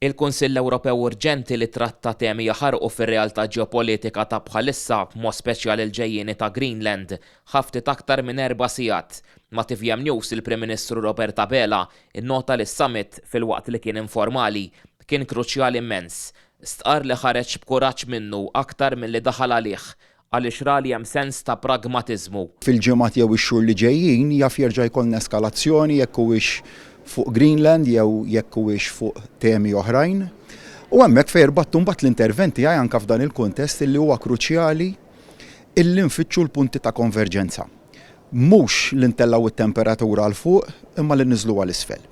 Il-Kunsill Ewropew urġenti li tratta temi jaħarqu fir-realtà ġeopolitika ta' bħalissa, b'mod speċjali l-ġejjieni ta' Greenland. Ħa ftit aktar minn erba' sigħat. Ma' tvm News il-Prim Ministru Robert Abela nnota li s-summit, filwaqt li kien informali, kien kruċjali mmens. Stqarr li ħareġ b'kuraġġ minnu aktar milli daħal għalih. għaliex ra li hemm sens ta' pragmatiżmu. Fil-ġimgħat jew ix-xhur li ġejjin jaf jerġa' jkollna eskalazzjoni jekk huwiex fuq Greenland jew jekk huwiex fuq temi oħrajn. U hemmhekk fejn irbattu mbagħad l-intervent tiegħi anke f'dan il-kuntest illi huwa kruċjali illi nfittxu l-punti ta' konverġenza. Mhux li ntellgħu t-temperatura 'l fuq imma li nniżluha 'l isfel.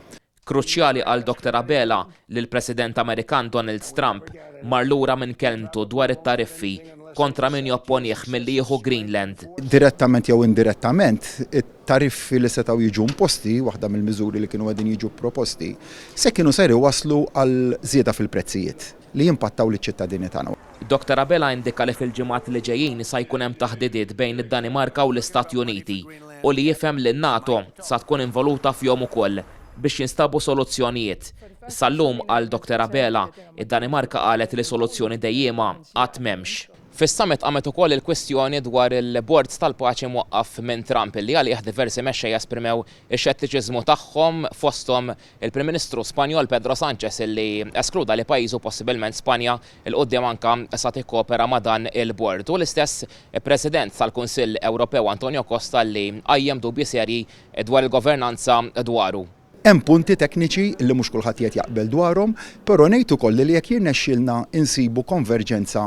Kruċjali għal Doktor Abela li l-President Amerikan Donald Trump mar lura minn kelmtu dwar it-tariffi kontra min jopponih milli jieħu Greenland. Direttament jew indirettament, it-tariffi li setgħu jiġu imposti, waħda mill-miżuri li kienu qegħdin jiġu proposti, se kienu ser iwasslu għal żieda fil-prezzijiet. li jimpattaw liċ-ċittadini tagħna. Doctor Abela indika li fil-ġimgħat li ġejjin sa jkun hemm taħdidiet bejn id-Danimarka u l-Istati Uniti u li jifhem li n-NATO sa tkun involuta fihom ukoll biex jinstabu soluzzjonijiet. Sal-lum, qal Doctor Abela, id-Danimarka qalet li soluzzjoni dejjiema għad m'hemmx. Fis-summit qamet ukoll il-kwistjoni dwar il-Bord tal-Paċi mwaqqaf minn Trump li għalih diversi mexxejja esprimew ix-xettiċiżmu tagħhom fosthom Il-Prim Ministru Spanjol Pedro Sanchez illi eskluda li pajjiżu, possibilment Spanja, 'il quddiem anka sa tikkopera ma' dan il-Bord, u l-istess President tal-Kunsill Ewropew Antonio Costa illi qajjem dubji serji dwar il-governanza dwaru. Hemm punti tekniċi li mhux kulħadd qiegħed jaqbel dwarhom, però ngħid ukoll li jekk jirnexxielna nsibu konverġenza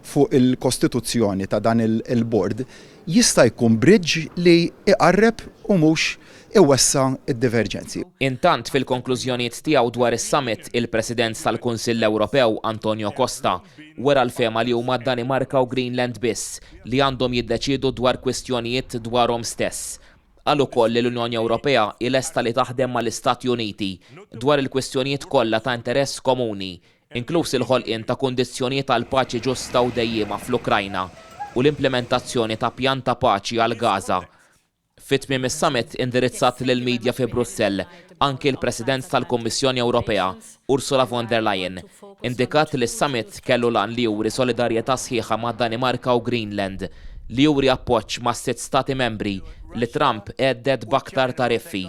fuq il-kostituzzjoni ta' dan il-Bord, jista' jkun bridge li jqarreb u mhux iwessa' d-diverġenzi. Intant, fil-konklużjonijiet tiegħu dwar is-summit, il-President tal-Kunsill Ewropew, Antonio Costa, wera l-fehma li huma d-Danimarka u Greenland biss li għandhom jiddeċiedu dwar kwistjonijiet dwarhom stess. Qal ukoll li l-Unjoni Ewropea hi lesta li taħdem mal-Istati Uniti dwar il-kwistjonijiet kollha ta' interess komuni, inkluż il-ħolqien ta' kundizzjonijiet għal paċi ġusta u dejjiema fl-Ukrajna u l-implimentazzjoni ta' pjan ta' paċi għal Gaza. Fi tmiem is-summit indirizzat lill-media fi Brussell, anki l-President tal-Kummissjoni Ewropea, Ursula von der Leyen, indikat li s-summit kellu l-għan li juri solidarjetà sħiħa mad-Danimarka u Greenland, li juri appoġġ mas-sitt Stati Membri li Trump hedded b'aktar tariffi,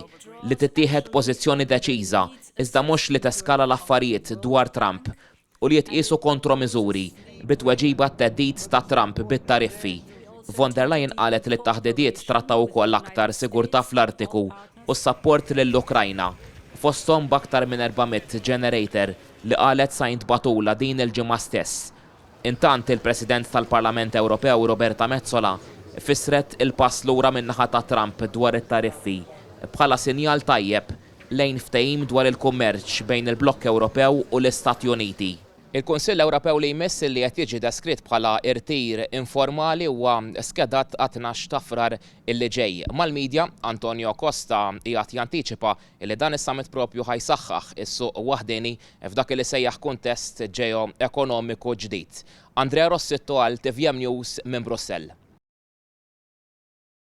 li tittieħed pożizzjoni deċiża, iżda mhux li teskala l-affarijiet dwar Trump. u li jitqiesu kontromiżuri bi tweġiba għat-theddid ta' Trump bit-tariffi. Von der Leyen qalet li t-taħdidiet trattaw ukoll aktar sigurtà fl-Artiku u s-sapport lill-Ukrajna, fosthom b'aktar minn 400 generator li qalet sa jintbagħtulha din il-ġimgħa stess. Intant, il-President tal-Parlament Ewropew Roberta Metsola fissret il-pass lura min-naħa ta' Trump dwar it-tariffi bħala sinjal tajjeb lejn ftehim dwar il-kummerċ bejn il-blokk Ewropew u l-Istati Uniti. Il-Kunsill Ewropew li jmiss li qed jiġi deskritt bħala rtir informali huwa skedat għat-tnax ta' Frar li ġej. Mal-media, Antonio Costa qiegħed jantiċipa li dan is-summit proprju ħa jsaħħaħ is-suq waħdieni f'dak li sejjaħ kuntest ġeo-ekonomiku ġdid. Andrea Rossitto għal tvm News minn Brussell.